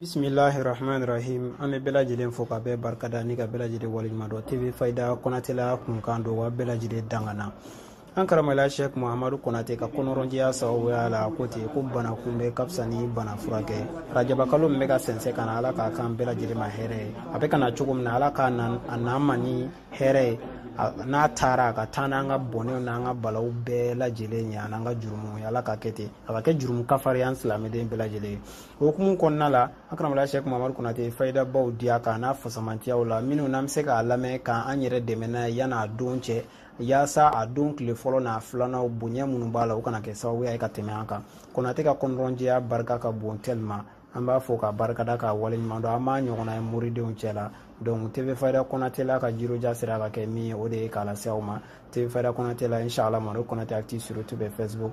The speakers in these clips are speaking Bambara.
bisimilahi rahman rahim an bɛ bɛɛ lajɛlen fo ka bɛɛ barikada ni ka bɛɛ lajɛlen waleɲumandɔn tv fayida kɔnatɛla kunkan don wa bɛɛ lajɛlen dangana an karamɔgɔya sɛk mahamadu konate ka kɔnɔrɔnjɛya sababuya la ko ten ko bana kunbɛn ka fisa ni bana furakɛ rajabakalo min bɛ ka sɛnsɛn ka na ala k'a k'an bɛɛ lajɛlen ma hɛrɛ ye a bɛ ka na cogo min na ala k'a na a n'an ma ni hɛrɛ ye n'a taara a ka taa n'an ka bɔnɛw n'an ka balaw bɛɛ lajɛlen ye an'an ka jurumu ye ala ka kɛ ten a ka kɛ jurumu kafari an silamɛden bɛɛ lajɛlen ye o hukumu kɔnɔna la an karamɔgɔya sɛk mamadu konate fayidabaw diya k'a n'a fasamantiyaw la minnu n'an bɛ se k'a lamɛn k'an yɛrɛ dɛmɛ n'a ye yan'a don cɛ yaasa a don tile fɔlɔ n'a filanaw bonya minnu b'a la u kana kɛ sababuya ye ka tɛmɛ an kan kɔnatɛ ka kɔnɔrɔnjɛya barika ka bon ten le ma an b'a fo k'a barikada k'a waleɲuman dɔn an m'a ɲɔgɔnna ye moridenw cɛ la donc tv fayida kɔnatɛ la ka jiroja sera ka kɛ min ye o de ye k'a lase aw ma tv fayida kɔnatɛ la inshallah madu kɔnatɛ active sur youtube facebook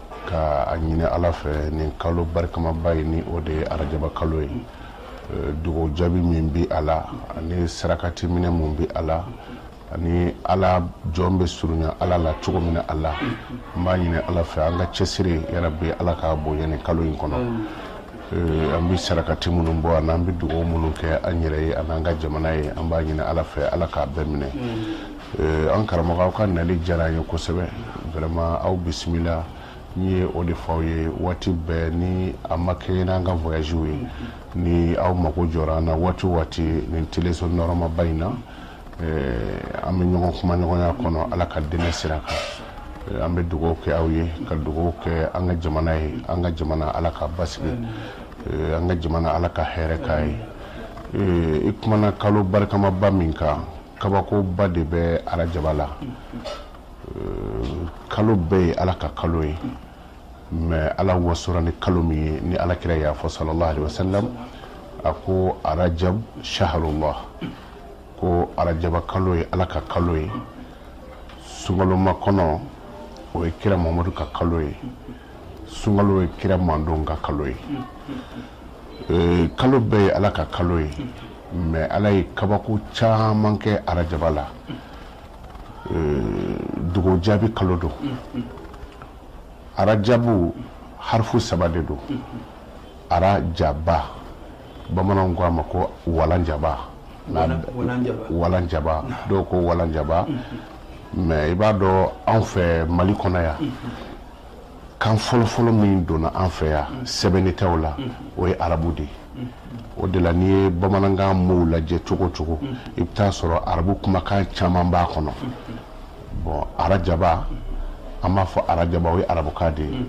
ka a ɲini ala fɛ nin kalo barikamaba in ni o de ye arajaba kalo ye eh, dugaw jaabi min bi a la ani sarakati minɛ min bi a la ani ala jɔn bɛ surunya ala la cogo min na a la an b'a ɲini ala fɛ an ka cɛsiri ya rabi ala k'a bonya nin kalo in kɔnɔ eh, an bɛ sarakati minnu bɔ ani an bɛ dugaw minnu kɛ an yɛrɛ ye ani an ka jamana ye an b'a ɲini ala fɛ ala k'a bɛɛ minɛ Eh, an karamɔgɔ aw ka nali diyara an ye kosɛbɛ vraiment aw bisimila n ye o de fɔ aw ye waati bɛɛ ni a ma kɛɲɛ n'an ka voyage ye ni aw mago jɔra an na waati waati nin teleso nɔrɔmaba in na eh, an bɛ ɲɔgɔn kumaɲɔgɔnya kɔnɔ ala ka diinɛ sira kan eh, an bɛ dugawu kɛ aw ye ka dugawu kɛ an ka jamana ye an ka jamana ala ka basigi an ka jamana ala ka hɛrɛ k'a ye i kumana kalo barikamaba min kan kabakoba de bɛ arajaba la kalo bɛɛ ye ala ka kalo ye mɛ ala wasora ni kalo min ye ni ala kira y'a fɔ salalahu alayihi wasalamu a ko arajab saharulahi ko arajaba kalo ye ala ka kalo ye sunkalomakɔnɔ o ye kira muhamadu ka kalo ye sunkalo ye kira manden ka kalo ye kalo bɛɛ ye ala ka kalo ye mɛ ala ye kabako caman kɛ arajaba la dugaw jaabi kalo don arajabu harifu saba de don arajaba bamananw ko a ma ko walan jaba walan jaba dɔw ko walan jaba mɛ i b'a dɔn anw fɛ mali kɔnɔ yan kan fɔlɔfɔlɔ min donna an fɛ yan mm. sɛbɛnnitaw la mm. o ye arabu de ye mm. o de la n'i ye bamanankan mow lajɛ cogo o cogo i bɛ taa sɔrɔ arabu kumakan caman b'a kɔnɔ bon arajaba an b'a fɔ arajaba o ye arabukan de ye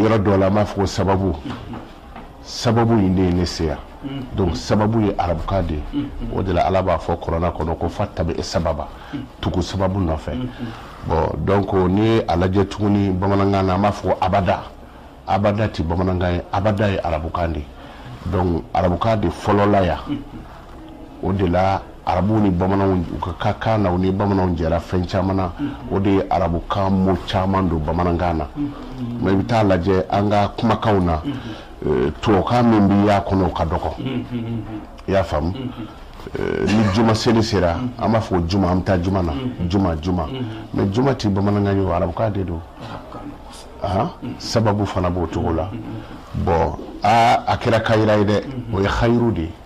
yɔrɔ dɔw la an b'a fɔ ko sababu sababu in de ye ne se yan donc sababu ye arabukan de ye o de la ala b'a fɔ kurana kɔnɔ ko fattaba'a sababa tugu sababu nɔfɛ bon donc n'i ye a lajɛ tuguni bamanankan na an b'a fɔ ko abada abada ti bamanankan ye abada ye arabukan de ye donc arabukan de fɔlɔla yan o de la arabuw ni bamananw u ka ka kan na u ni bamananw jɛra fɛn caman na o de ye arabukan mot caman don bamanankan na mais i bɛ taa lajɛ an ka kumakanw na eh, tubabukan min bɛ y'a kɔnɔ o ka dɔgɔ i y'a faamu eh, ni juma seli sera an b'a fɔ juma an bɛ taa juma na juma juma mais juma tɛ bamanankan ye o arabukan de don sababu fana b'o cogo la bon a kɛra kayira ye dɛ o ye hayiru de ye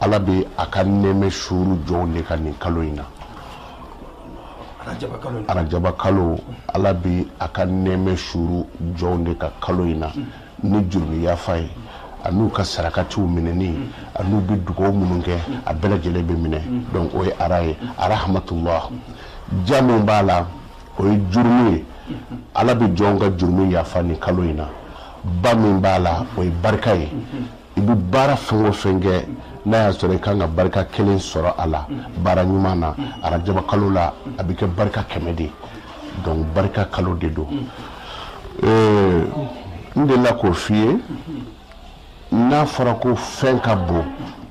ala bɛ a ka nɛɛmɛ suuru jɔnw de kan nin kalo in na arajaba kalo ala bɛ a ka nɛɛmɛ suuru jɔnw de kan kalo in na ni jurumi yafa ye an'u ka sarakatiw minɛni an'u bɛ dugaw minnu kɛ a bɛɛ lajɛlen bɛ minɛ donc o ye ara ye arahamatullah ja min b'a la o ye jurumi ye ala bɛ jɔnw ka jurumi yafa nin kalo in na ba min b'a la o ye barika ye i bɛ baara fɛn o fɛn kɛ n'a y'a sɔrɔ i kan ka barika kelen sɔrɔ a la baara ɲuman na arajaba kalo la a bɛ kɛ barika kɛmɛ de donc barika kalo de don euh, n delila k'o f'i ye n'a fɔra ko fɛn ka bon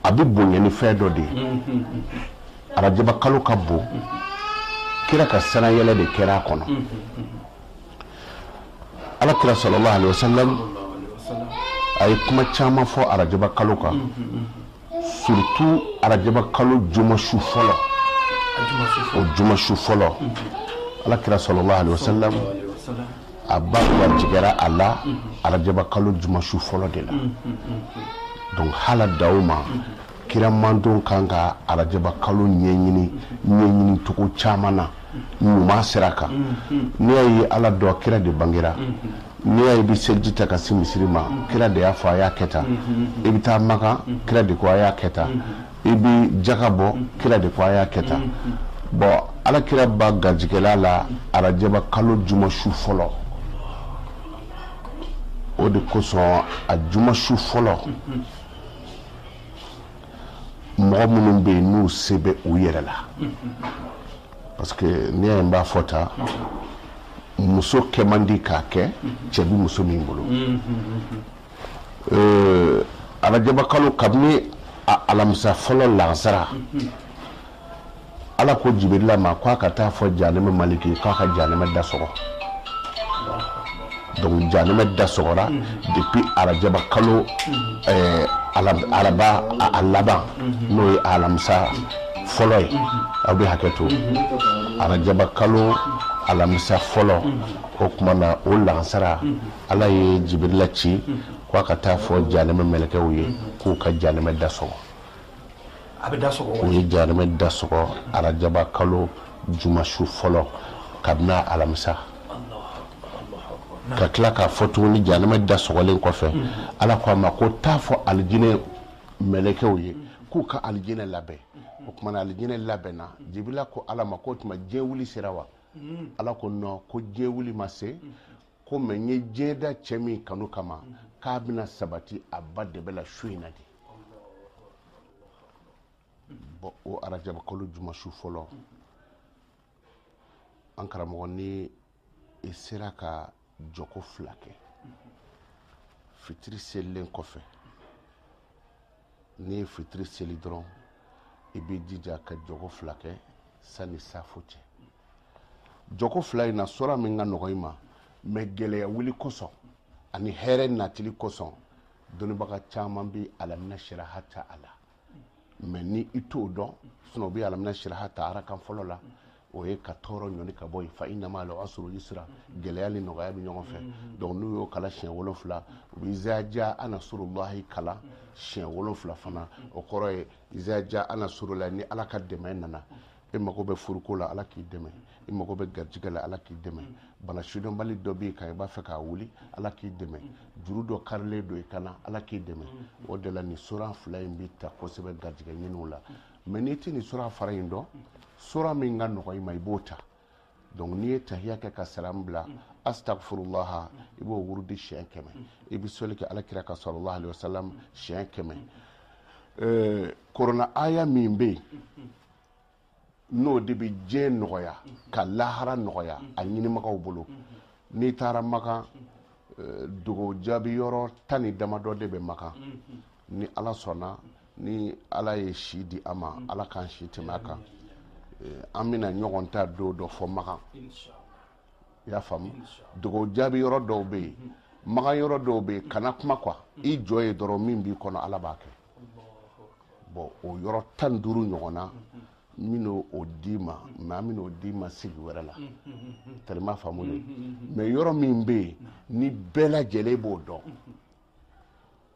a bɛ bonya ni fɛn dɔ de ye arajaba kalo ka bon kira ka sannayɛlɛ de kɛra a kɔnɔ ala kira sallallahu alaihi wasallam a ye kuma caman fɔ arajaba kalo kan surtout arajaba kalo jumasu fɔlɔ o jumasu fɔlɔ ala kira sallallahu alaihi wasallam a ba garijigɛra a la arajaba kalo jumasu fɔlɔ de la donc ala dawama kira mantɔn kan ka arajaba kalo ɲɛɲini ɲɛɲini cogo caman na ɲuman sira kan n'i y'a ye ala dɔn kira de bangera n'i y'a ye i bɛ seliji ta ka se misiri ma kira de y'a fɔ a y'a kɛ tan i bɛ taa makan kira de ko a y'a kɛ tan i bɛ jaka bɔ kira de ko a y'a kɛ tan bon ala kira ba garijɛgɛla a la arajaba kalo juma su fɔlɔ o de kosɔn a juma su fɔlɔ mɔgɔ minnu bɛ yen n'u se bɛ u yɛrɛ la parce que n'i y'a ye n b'a fɔ tan muso kɛ man di k'a kɛ cɛ bɛ muso min bolo euh, arajabakalo kabini alamisa fɔlɔ lansara ala ko jibirila ma k'a ka taa fɔ janɛmɛ maliki k'a ka janɛmɛ da sɔgɔ donc janɛmɛ da sɔgɔra depuis arajaba kalo eh, araba a laban n'o ye alamisa fɔlɔ ye aw bɛ hakɛ to arajaba kalo alamisa fɔlɔ o tuma na o lansara ala ye jibirila ci k'a ka taa fɔ janɛmɛ mɛlɛkɛw ye k'u ka janɛmɛ da sɔgɔ a bɛ da sɔgɔ u ye janɛmɛ da sɔgɔ arajaba kalo jumasu fɔlɔ kabini alamisa ka tila k'a fɔ tuguni janɛmɛ da sɔgɔlen kɔfɛ hmm. ala ko a ma ko t'a fɔ alijinɛ mɛlɛkɛw ye k'u ka alijinɛ labɛn o tuma na alijinɛ labɛnna jibirila ko ala ma ko tuma diɲɛ wuli sera wa hmm. ala ko non ko diɲɛ wuli ma se hmm. ko mais n ye diɲɛ da cɛ min kanu kama k'a bɛna sabati a ba dɛbɛ la su in na de bon o arajabakalo jumasu fɔlɔ an karamɔgɔ ni i sera ka jɔko fila kɛ fitiri selilen kɔfɛ n'i ye fitiri seli dɔrɔn i b'i jija ka jɔko fila kɛ sanni safo cɛ jɔko fila in na sora min ka nɔgɔ i ma mais gɛlɛya wuli kosɔn ani hɛrɛ natili kosɔn dɔnnibaga caman bɛ alamina siraha ta a la mais ni i t'o dɔn sinon u bɛ alamina siraha ta arakan fɔlɔ la o ye ka tɔɔrɔ ɲɔni ka bɔ yen fa inna ma'al usri yusra gɛlɛya ni nɔgɔya bɛ ɲɔgɔn fɛ mm-hmm. donc n'u y'o kalan siɲɛ wolonfila u bɛ iza jaa nasurulahi kalan siɲɛ wolonfila fana mm-hmm. o kɔrɔ ye iza jaa nasurulahi ni ala ka dɛmɛ nana e mago bɛ furuko la ala k'i dɛmɛ i mago bɛ garijɛgɛ la ala k'i dɛmɛ bana sidɔnbali dɔ b'i kan i b'a fɛ k'a wuli ala k'i dɛmɛ juru dɔ karilen don i kan na ala k'i dɛmɛ o de la nin sora fila in bɛ ta kosɛbɛ garijɛgɛ ɲiniw la mais n'i tɛ nin sora fila in dɔn sora min ka nɔgɔ i ma i b'o ta donc n'i ye tahiya kɛ ka salam bila astagfirulaha i b'o wurudi siɲɛ kɛmɛ i bɛ sɔli kɛ ala kira kan salalahu alayhi wa salam siɲɛ kɛmɛ kurana aya min bɛ yen n'o de bɛ diɲɛ nɔgɔya ka lahara nɔgɔya a ɲinimagaw bolo n'i taara makan eh, dugawu jaabi yɔrɔ tan ni damadɔ de bɛ makan ni ala sɔnna ni ala ye si di an ma ala k'an si tɛmɛ a kan eh, an bɛna ɲɔgɔn ta don dɔ fɔ makan i y'a faamu dugawu jaabi yɔrɔ dɔw bɛ yen makan yɔrɔ dɔw bɛ yen kana kuma quoi i jɔ ye dɔrɔn min b'i kɔnɔ ala b'a kɛ bon o yɔrɔ tan ni duuru ɲɔgɔn na n bɛna o d'i ma mais an bɛna o d'i ma sigi wɛrɛ la tɛrɛma faamu de mais yɔrɔ min bɛ yen ni bɛɛ lajɛlen b'o dɔn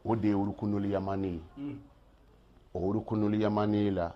o de ye urukunul yamani ye o urukunul yamani la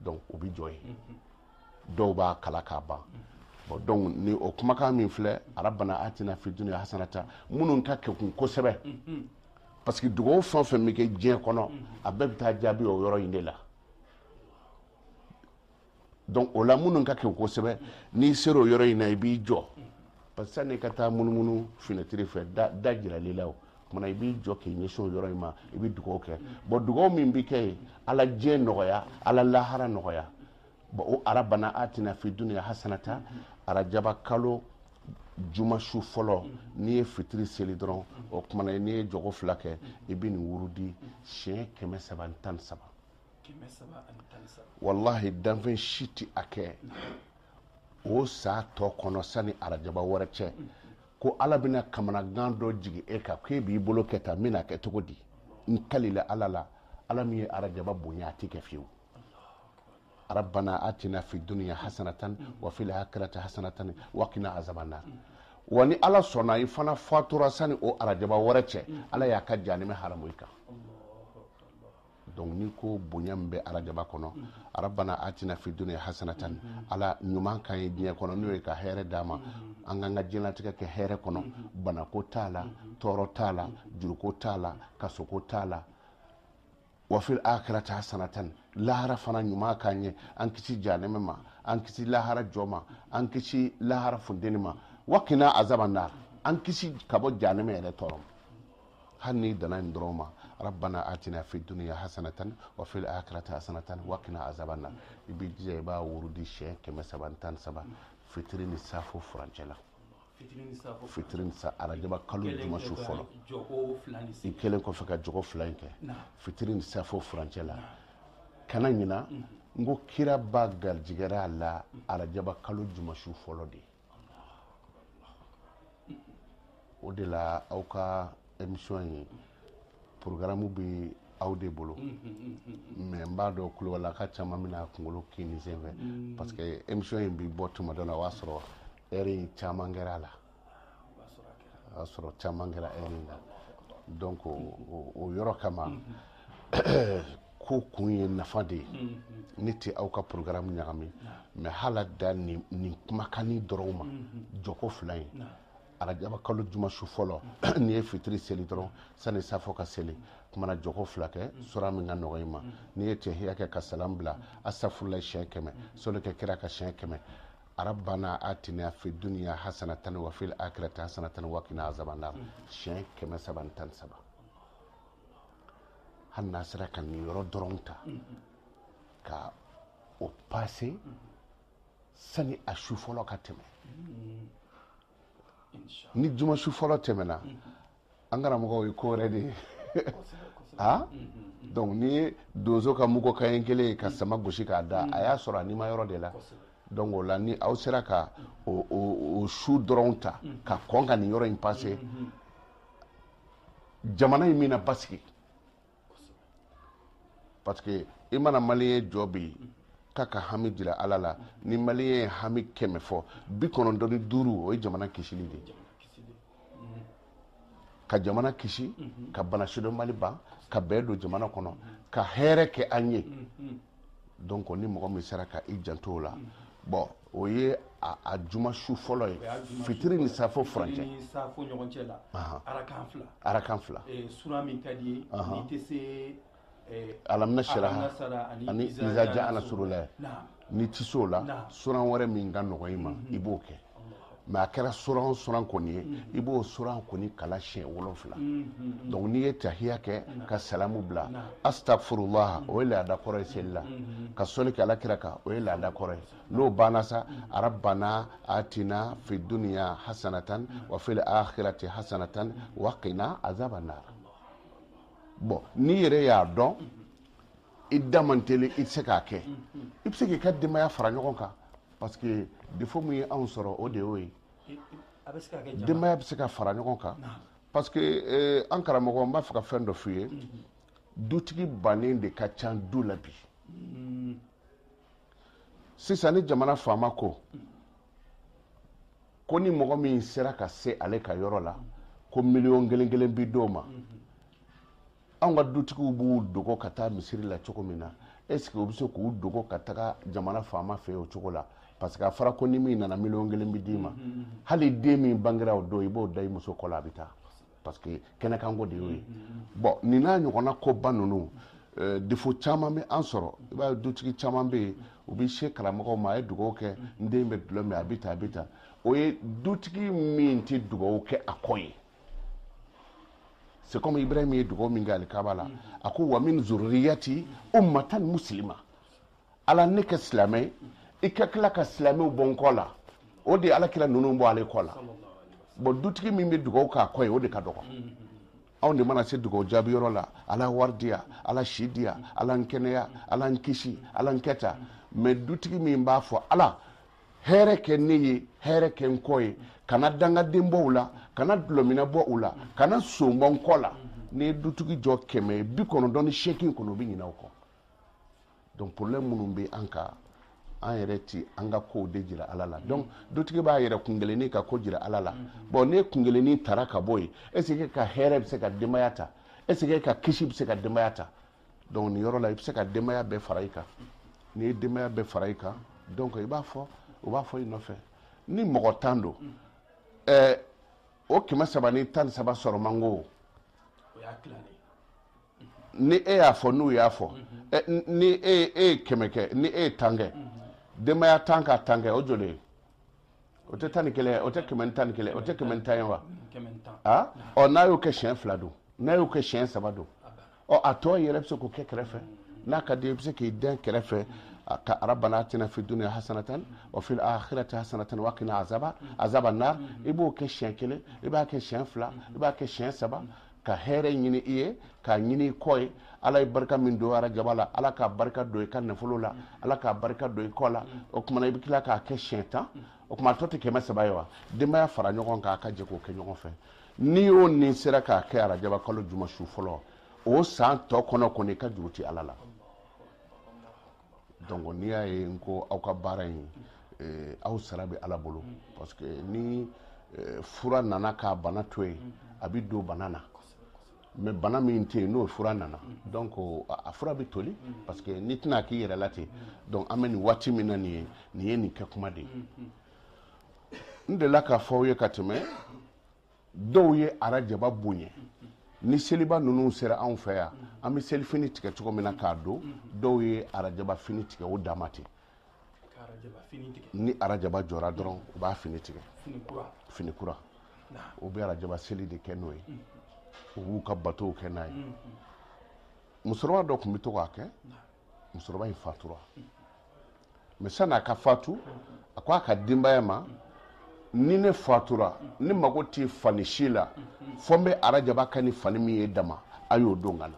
donc u bɛ jɔ yen dɔw b'a kalan k'a ban bon donc ni o kumakan min filɛ arabana atina fi dunya hasanata minnu ka kɛkun kosɛbɛ parce que dugawu fɛn o fɛn bɛ kɛ diɲɛ kɔnɔ a bɛɛ bɛ taa jaabi o yɔrɔ in de la donc o la minnu ka kɛkun kosɛbɛ n'i sera o yɔrɔ in na i b'i jɔ parce que sanni i ka taa munumunu finɛtiri fɛ da jirala i la o tuma na i b'i jɔ k'i ɲɛsin o yɔrɔ in ma i bɛ dugawu kɛ bon dugawu min bɛ kɛ yen ala diɲɛ nɔgɔya ala lahara nɔgɔya bon o arabana atina fi dunya hasanata arajaba kalo juma su fɔlɔ n'i ye fitiri seli dɔrɔn o tuma na n'i ye jɔko fila kɛ i bɛ nin wurudi siɲɛ kɛmɛ saba ni tan ni saba walahi danfɛn si tɛ a kɛ o san tɔ kɔnɔ sani arajaba wɛrɛ cɛ ko ala bɛna kamanagan dɔ jigin e kan k'e b'i bolo kɛ tan n bɛna kɛ cogo di n kalila ala la ala min ye arajaba bonya a tɛ kɛ fiyewu rabbana atina fi dunya hasanatan wa fil akhirati hasanatan wa qina azaban nar wa ni ala sɔnna i fana fatura sani o arajaba wɛrɛ cɛ ala y'a ka janime haramu i kan donc ni ko bonya min bɛ arajaba kɔnɔ arabana atina fi dunya hasanatan ala ɲuman k'an ye diɲɛ kɔnɔ n'o ye ka hɛrɛ d'an ma an k'an ka diɲɛlatigɛ kɛ hɛrɛ kɔnɔ banako t'a la tɔɔrɔ t'a la juruko t'a la kasoko t'a la wafil akirati hasanatan lahara fana ɲuman k'an ye an kisi janɛmɛ ma an kisi lahara jɔ ma an kisi lahara funteni ma wakina azaban nar an kisi ka bɔ janɛmɛ yɛrɛ tɔɔrɔ ma hali n'i danna nin dɔrɔn ma rabbana atina fi duniya hasanatan wa fil akhirati hasanatan wa qina azaban nar i b'i jija i b'a wurudi siɲɛ kɛmɛ saba ni tan ni saba fitiri ni safo furancɛ la fitiri ni sa arajaba kalo juma su fɔlɔ i kɛlen kɔfɛ ka jɔko fila in kɛ fitiri ni safo furancɛ la kana ɲina n ko kira ba garijigɛra a la arajaba kalo juma su fɔlɔ de o de la aw ka émission in programme bɛ aw de bolo mais n b'a dɔn kulubalilaka caman bɛna kunkolo kini senfɛ mm. parce que émission in bɛ bɔ tuma dɔ la o b'a sɔrɔ heure caman kɛra a la o y'a sɔrɔ caman kɛra heure la donc o yɔrɔ kama ko kun ye nafa de ye ne tɛ aw ka programme ɲagami mais hala da nin kumakan in dɔrɔn ma jɔko fila ye arajaba kalo juma su fɔlɔ n'i ye fitiri seli dɔrɔn sani safo ka seli k'u mana jɔko fila kɛ sura min ka nɔgɔ i ma n'i ye tahiya kɛ ka salam bila astafurulayi siɲɛ kɛmɛ sɔli kɛ kira kan siɲɛ kɛmɛ arabana atina fi duniya hasanatan wa fil akhirati hasanatan wa qina azaban nar siɲɛ kɛmɛ saba ni tan ni saba hali n'a sera ka nin yɔrɔ dɔrɔn ta ka o passé sani a su fɔlɔ ka tɛmɛ ni juma su fɔlɔ tɛmɛna an karamɔgɔ o ye ko wɛrɛ de ye a donc n'i ye donso ka mugu kaɲɛ kelen ye ka sama gosi k'a da a y'a sɔrɔ a nima yɔrɔ de la donc o la ni aw sera ka o, o, o su dɔrɔn ta ka kɔn ka nin yɔrɔ in passé jamana in bɛna basigi parce que i mana maliyɛn jɔ bi k'a ka hami jira ala la ni maliyɛn ye hami kɛmɛ fɔ bi kɔnɔntɔn ni duuru o ye jamana kisili de ye ka jamana kisi ka bana sidɔnbali ban ka bɛn don jamana kɔnɔ ka hɛrɛ kɛ an ye donc ni mɔgɔ min sera ka i janto o la bon o ye a juma su fɔlɔ ye fitiri ni safo furancɛ arakan fila sura min ka di i ye n'i tɛ se alam nashraha ani iza ja'a nasrullah n'i tɛ se o la suran wɛrɛ min ka nɔgɔ i ma i b'o kɛ mais a kɛra suran o suran kɔni ye i b'o suran kɔni kalan siɲɛ wolonfila donc n'i ye tahiya kɛ ka salamu bila astafurulaha o ye laada kɔrɔ ye seli la ka sɔli kɛ ala kira kan o ye laada kɔrɔ ye n'o banna sa arabana atina fi duniya hasanatan wa fil akhirati hasanatan wa qina azaban nar bon n'i yɛrɛ y'a dɔn i da man teli i tɛ se k'a kɛ i bɛ se k'i ka denbaya fara ɲɔgɔn kan parce que défaut min ye anw sɔrɔ o de y'o ye denbaya bɛ se ka fara ɲɔgɔn kan parce que eh, an karamɔgɔ n b'a fɛ ka fɛn dɔ f'i ye dutigi bannen de ka ca du la bi mm. sisan ni jamana faama ko ko ni mɔgɔ min sera ka se ale ka yɔrɔ la ko miliyɔn kelen kelen bi d'o ma anw ka dutigiw b'u dogo ka taa misiri la cogo min na est ce que u bɛ se k'u dogo ka taga jamana faama fɛ o cogo la parce que a fɔra ko ni min nana miliyɔn kelen bi d'i ma hali den min bangera o don i b'o da i muso kɔ la a bɛ taa parce que kɛnɛkanko de y'o ye bon nin n'a ɲɔgɔnna koba ninnu eh, défaut caman bɛ an sɔrɔ i b'a ye dutigi caman bɛ yen u bɛ se karamɔgɔw ma a ye dugawu kɛ n den bɛ dulɔ min a bɛ tan a bɛ tan o ye dutigi min tɛ dugawu kɛ a kɔ ye c'est comme ibrahim ye dugawu min kɛ alikaba la a ko wa min zuriyati ummatan muslima ala ne kɛ silamɛ ye i ka tila ka silamɛw bɔ n kɔ la o de ye ala kira ninnu bɔ ale kɔ la bon dutigi min bɛ dugawu k'a kɔ ye o de ka dɔgɔ anw de mana se dugawu jaabi yɔrɔ la ala wari di yan ala si di yan ala n kɛnɛya ala n kisi ala n kɛ tan mais dutigi min b'a fɔ ala hɛrɛ kɛ ne ye hɛrɛ kɛ n kɔ ye kana dangaden bɔ u la kana dulɔminna bɔ u la kana son bɔ n kɔ la n'i ye dutigi jɔ kɛmɛ bi kɔnɔntɔn ni seegin kɔnɔ u bɛ ɲinɛ o kɔ donc problème minnu bɛ an kan an yɛrɛ ti an ka kow de jira ala la donc dutigi b'a yɛrɛ kunkelenni ka ko jira ala la bon ne kunkelenni tara ka bɔ yen est ce que ka hɛrɛ bɛ se ka denbaya ta est ce que ka kisi bɛ se ka denbaya ta donc nin yɔrɔ la i bɛ se ka denbaya bɛɛ fara i kan n'i ye denbaya bɛɛ fara i kan donc i b'a fɔ u b'a fɔ i nɔfɛ ni mɔgɔ tan don ɛɛ o kɛmɛ saba ni tan ni saba sɔrɔ man go o y'a tilanen ni e y'a fɔ n'u y'a fɔ ni e e ye kɛmɛ kɛ ni e ye tan kɛ denbaya tan ka tan kɛ o joli ye o tɛ tan ni kelen ye o tɛ kɛmɛ ni tan ni kelen o tɛ kɛmɛ ni tan ye wa a ɔ n'a y'o kɛ siɲɛ fila don n'a y'o kɛ siɲɛ saba don ɔ a tɔ yɛrɛ bɛ se k'o kɛ kɛrɛfɛ n'a ka di i bɛ se k'i dɛn kɛrɛfɛ ka rabbana atina fi dunya hasanatan wa fil akhirati hasanatan wa qina azaba azaba nar i b'o kɛ siɲɛ kelen i b'a kɛ siɲɛ fila i b'a kɛ siɲɛ saba ka hɛrɛ ɲini i ye k'a ɲini i kɔ ye ala ye barika min don arajaba la ala k'a barika don i ka nafolo la ala k'a barika don i kɔ la o kuma na i bɛ tila k'a kɛ siɲɛ tan o kuma a tɔ tɛ kɛmɛ saba ye wa denbaya fara ɲɔgɔn kan a ka jɛ k'o kɛ ɲɔgɔn fɛ ni o nin sera k'a kɛ arajaba kalo juma su fɔlɔ o san tɔ kɔnɔ kɔni i ka juru ti ala la donc n'i y'a ye n ko aw ka baara in eh, aw sara bɛ ala bolo parce que ni eh, fura nana k'a bana to yen a bɛ don bana na mais bana min tɛ yen n'o fura nana donc a fura bɛ toli parce que n'i tɛna k'i yɛrɛ la ten donc an bɛ nin waati min na nin ye nin ye nin kɛ kuma de ye n delila k'a fɔ aw ye ka tɛmɛ dɔw ye arajaba bonya ni seliba ninnu sera anw fɛ yan an bɛ selifini tigɛ cogo min na k'a don dɔw ye arajaba fini tigɛ o dama ten ni arajaba jɔra dɔrɔn u b'a fini tigɛ fini kura u bɛ arajaba seli de kɛ n'o ye u b'u ka batow kɛ n'a ye musokɔrɔba dɔ tun bɛ to k'a kɛ musokɔrɔba in fatura mais sani a ka fatu a ko a ka denbaya ma ni ne fatura ne mago tɛ fani si la fo n bɛ arajaba kɛ ni fani min ye dama a y'o don n kan na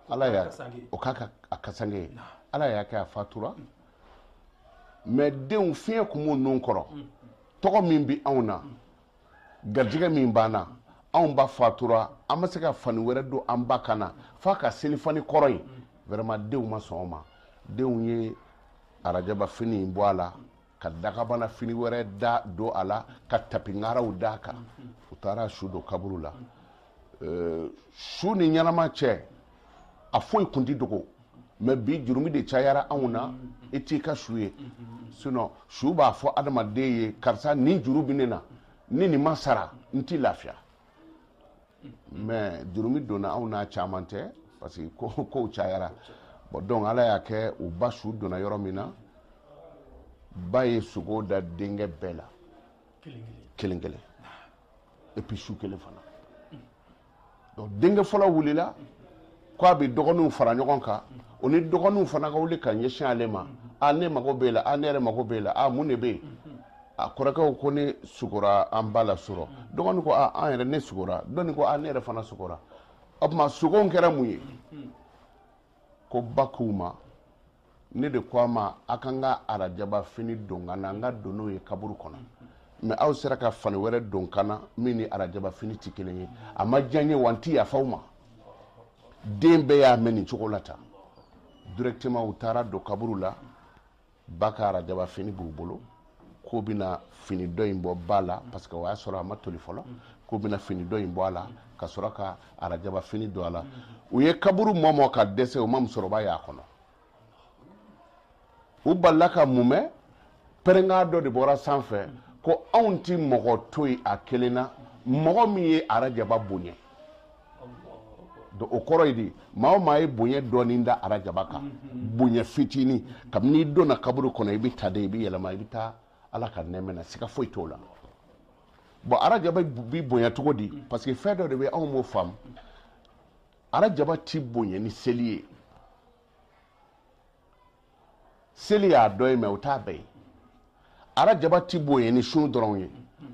ala y'a o k'a ka a kasange ye ala y'a kɛ a fatura mais denw fiɲɛ kun b'u nun kɔrɔ tɔgɔ min bɛ anw na garijɛgɛ min b'an na anw ba fatura an ma se ka fani wɛrɛ don an ba kan na f'a ka selifani kɔrɔ in vraiment denw ma sɔn o ma denw ye arajaba fini in bɔ a la ka dakabana fini wɛrɛ da don a la ka tapingaraw d'a kan u taara su don kaburu la su ni ɲɛnama cɛ a foyi kun tɛ dogo mais bi jurumi de cayara anw na i t'i ka su ye sinon su b'a fɔ adamaden ye karisa nin juru bɛ ne na ni nin ma sara n ti lafiya mais jurumi donna anw n'a caman tɛ parce que kow cayara bon donc ala y'a kɛ u ba su donna yɔrɔ min na ba ye sugo da denkɛ bɛɛ la kelen kelen et puis su kelen fana donc denkɛ fɔlɔ wulila ko a bɛ dɔgɔninw fara ɲɔgɔn kan o ni dɔgɔninw fana ka wuli ka ɲɛsin ale ma a ne mago b'e la a ne yɛrɛ mago b'e la a mun de bɛ yen a kɔrɔkɛw ko ne sugora an ba la surɔ dɔgɔnin ko a an yɛrɛ ne sugora dɔ nin ko a ne yɛrɛ fana sugora o tuma sugow kɛra mun ye ko ba k'u ma ne de ko a ma a ka n ka arajaba fini don n kan na n ka don n'o ye kaburu kɔnɔ mais aw sera ka fani wɛrɛ don n kan na min ni arajaba fini tɛ kelen ye a ma diya n ye wa n tɛ yafa aw ma den bɛɛ y'a mɛn nin cogo la tan directement u taara don kaburu la ba ka arajaba fini b'u bolo k'u bɛna fini dɔ in bɔ ba la parce que o y'a sɔrɔ a ma toli fɔlɔ k'u bɛna fini dɔ in bɔ a la ka sɔrɔ ka arajaba fini don a la u ye kaburu mɔmɔ ka dɛsɛ u ma musokɔrɔba y'a kɔnɔ u balala ka mun mɛn pɛrɛnkan dɔ de bɔra sanfɛ ko anw ti mɔgɔ to yen a kelen na mɔgɔ min ye arajaba bonya donc o kɔrɔ ye di maa o maa ye bonya dɔɔni da arajaba kan mhm. bonya fitini kabini i donna kaburu kɔnɔ i bɛ ta de i bɛ yɛlɛma i bɛ taa ala ka nɛɛmɛ na siga foyi t'o la bon arajaba bi bonya cogo di mhm. parce que fɛn dɔ de bɛ anw m'o faamu arajaba ti bonya ni seli ye seli y'a dɔ ye mais o t'a bɛɛ ye arajaba ti bonya ni sun dɔrɔn ye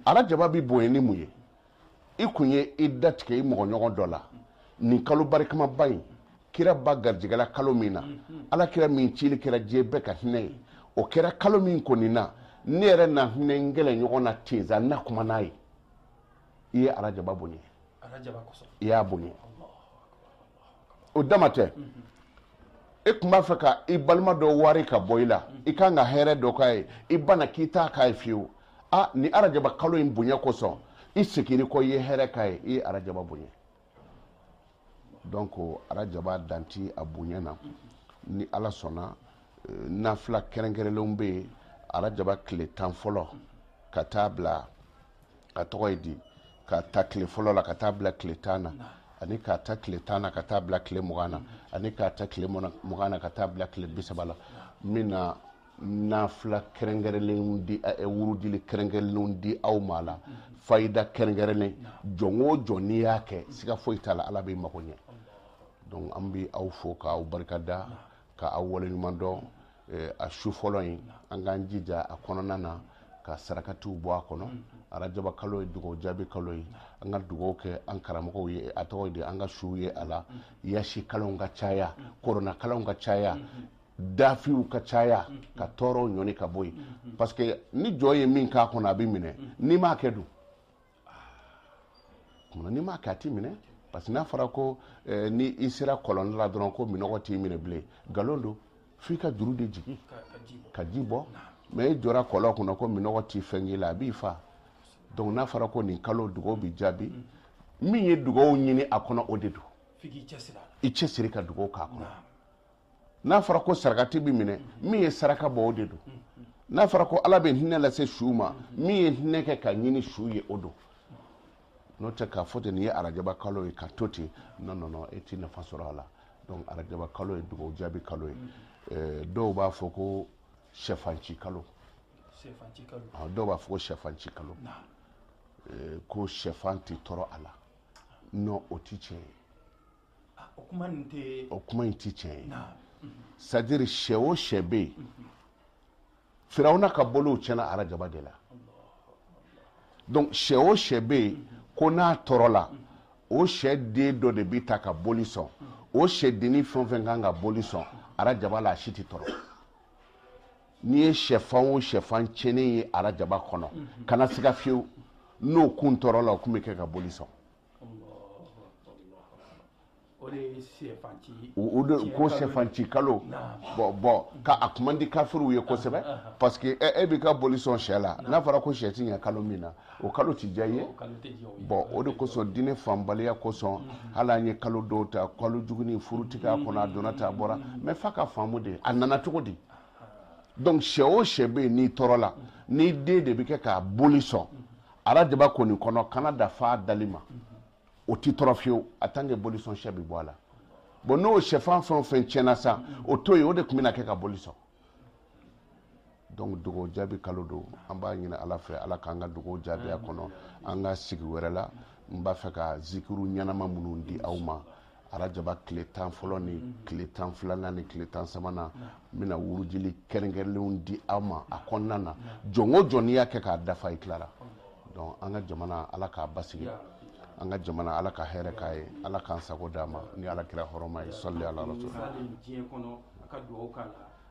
arajaba bi bonya ni mun ye i kun ye i datigɛ i mɔgɔɲɔgɔn dɔ la nin kalo barikamaba in kira ba garijɛgɛla kalo min na ala kira min cili kɛra diɲɛ bɛɛ ka hinɛ ye o kɛra kalo min kɔnɔna ne yɛrɛ na hinɛ n kɛlɛɲɔgɔn na ten sa na kuma n'a ye i ye arajaba bonya i y'a bonya o dama tɛ e tun b'a fɛ ka i balima dɔ wari ka bɔ i la i kan ka hɛrɛ dɔ k'a ye i banna k'i t'a k'a ye fiyewu a ni arajaba kalo in bonya kosɔn i segin kɔ i ye hɛrɛ k'a ye i ye arajaba bonya donc arajaba dan ti a bonya na ni ala sɔnna eh, nafila kɛrɛnkɛrɛnlenw bɛ yen arajaba tile tan fɔlɔ ka taa bila a tɔgɔ ye di k'a ta tile fɔlɔ la ka taa bila tile tan na ani k'a ta tile tan na ka taa bila tile mugan na ani k'a ta tile mugan na ka taa bila tile bi saba la n bina nafila kɛrɛnkɛrɛnlenw di eh, wurudili kɛrɛnkɛrɛnlenw di aw ma la fayida kɛrɛnkɛrɛnlen jɔn o jɔn n'i y'a kɛ siga foyi t'a la ala b'i mago ɲɛ donc an bi aw fo k'aw barikada ka aw waleɲuman dɔn eh, a su fɔlɔ in an k'an jija a kɔnɔna na ka sarakatiw bɔ a kɔnɔ arajaba kalo ye dugawu jaabi kalo ye an ka dugawu kɛ an karamɔgɔw ye a tɔgɔ de an ka suw ye a la yasin kalanw ka caya kurana kalanw ka caya dafiw ka caya ka tɔɔrɔw ɲɔni ka bɔ yen parce que ni jɔn ye min k'a kɔnɔ a bɛ minɛ n'i m'a kɛ dun munna n'i m'a kɛ a t'i minɛ parce que n'a fɔra ko eh, ni i sera kɔlɔn la dɔrɔn ko minɔgɔ t'i minɛ bilen nkalon don f'i ka juru de jigin ka ji bɔ mais i jɔra kɔlɔn kunna ko minɔgɔ ti fɛn k'i la a b'i fa donc n'a fɔra ko nin kalo dugawu bi jaabi min ye dugawu ɲini a kɔnɔ o de don i cɛsiri ka dugawu k'a kɔnɔ n'a fɔra ko sarakati bɛ minɛ min ye saraka bɔ o de don n'a fɔra ko ala bɛ hinɛ lase su ma min ye hinɛ kɛ ka ɲini su ye o don n'o tɛ k'a fɔ ten nin ye arajaba kalo ye ka to ten non non non e ti nafa sɔrɔ a la donc arajaba kalo ye dugawu jaabi kalo ye eh, dɔw b'a fɔ ko sɛfanci kalo ah, dɔw b'a fɔ ko sɛfanci kalo eh, ko sɛfan tɛ tɔrɔ a la non o ti tiɲɛ ye ah, o kuma in tɛ o kuma in tɛ tiɲɛ ye c'est à dire sɛ o sɛ bɛ yen mhm. firawuna ka boliw tiɲɛna arajaba de la donc sɛ o sɛ bɛ yen mhm. ko n'a tɔrɔla mhm. o sɛden dɔ de bɛ ta ka boli sɔn o sɛdennin fɛn o fɛn kan ka boli sɔn arajaba la a si tɛ tɔrɔ n'i ye sɛfan o sɛfan tiɲɛnen ye arajaba kɔnɔ kana siga fiyewu n'o kun tɔrɔla o kun bɛ kɛ ka boli sɔn o de ye sɛfan ci ye o o de Tiɲɛ ko kalo sɛfanci kalo Naam. bɔn bɔn ka a kuma di kafiriw ye kosɛbɛ parce que e e b'i ka boli sɔn sɛ la n'a fɔra ko sɛ ti ɲɛ kalo min na o kalo ti diya i ye o kalo tɛ diya o ye bɔn o de kosɔn diinɛ faamubaliya kosɔn hali an ye kalo dɔw ta kalo jugunin furu ti kɛ a kɔnɔ a donna ta a bɔra mais f'a k'a faamu de a nana cogo di donc sɛ o sɛ bɛ yen n'i tɔrɔla n'i den de bɛ kɛ ka boli sɔn arajaba kɔni kɔnɔ kana da fan dali ma o ti tɔrɔ fiyewu en tant que bolisɔn sɛ bi bɔ a la bɔn n'o sɛfan fɛn o fɛn tiɲɛna sa o to yen o de tun bɛna kɛ ka boli sɔn donc dugawu jaabi kalo don an b'a ɲini ala fɛ ala k'an ka dugawu jaabi a kɔnɔ an ka sigi wɛrɛ la n b'a fɛ ka zikiru ɲɛnama minnu di aw ma arajaba tile tan fɔlɔ ni mhm. tile tan filanan ni tile tan sabanan n bɛna wurudili kɛrɛnkɛrɛnlenw di aw ma a kɔnɔna na jɔn o jɔn n'i y'a kɛ k'a dafa i tilara donc an ka jamana ala k'a basigi an ka jamana ala ka hɛrɛ k'a ye ala k'an sago d'an ma ni ala kira hɔrɔma ye sɔli ala rasul